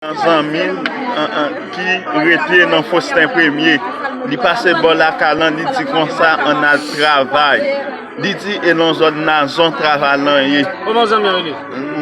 Zanmi m ki rete nan Fosten Premye, li pase bò lakay lan, li di konsa, Ann al travay. Li di, E nan zòn Nazon travay lan ye? Kòman zanmi an rele?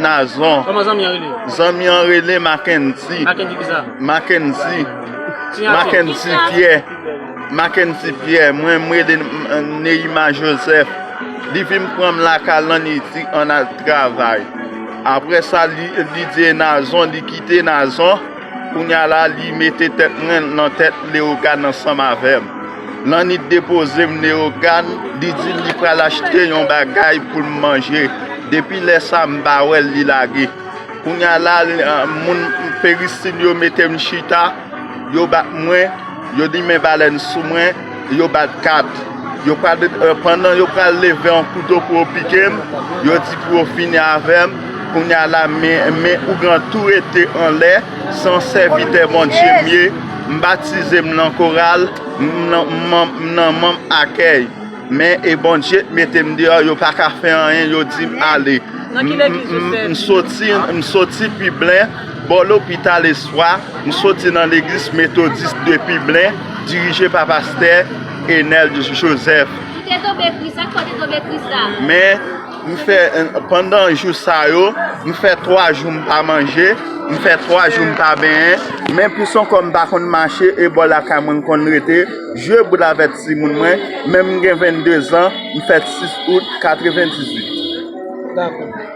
Nazon. Kòman zanmi an rele? Zanmi an rele Makenzi. Makenzi kisa? Makenzi. Siy ate? Makenzi Pyè. Makenzi Pyè. Mwen m rele Neyima Jozèf. Li vin pran m lakay lan, li di, Ann al travay. Apre sa, li di e Nazon, li kite Nazon, kounye a la, li mete tèt mwen nan tèt Lewogàn ansanm avè m. Lannit depoze m Lewogàn, li di li pral achte yon bagay pou m manje. Depi lè sa a, m pa wè l, li lage. Kounye a la, moun Peristin yo mete m chita, yo bat mwen, yo limen balèn sou mwen. Yo bat kat. Yo pral, pandan yo pral leve yon kouto pou yo pike m, yo di pou yo fini avè m, kounye a la, men ougan tou rete anlè, san sèvitè Bondye m ye, m batize, m nan koral, m nan manm akèy. Men, e Bondye t mete m deyò, yo pa ka fè anyen, yo di m ale. M soti, m soti Piblen. Bò lopital Espwa, m soti nan legliz Metodis Depiblen, dirije pa pastè Enèl Joseph. Ou te tonbe kri, sa k fè w te tonbe kri sa? Men, m fè, pandan jou sa yo, m fè 3 jou m pa manje, m fè 3 jou m pa benyen, men plis ankò m pa konn mache e bò lakay mwen m konn rete, jwe boul avèk timoun mwen, men m gen 22 zan, m fèt 6 out 98. Dakò.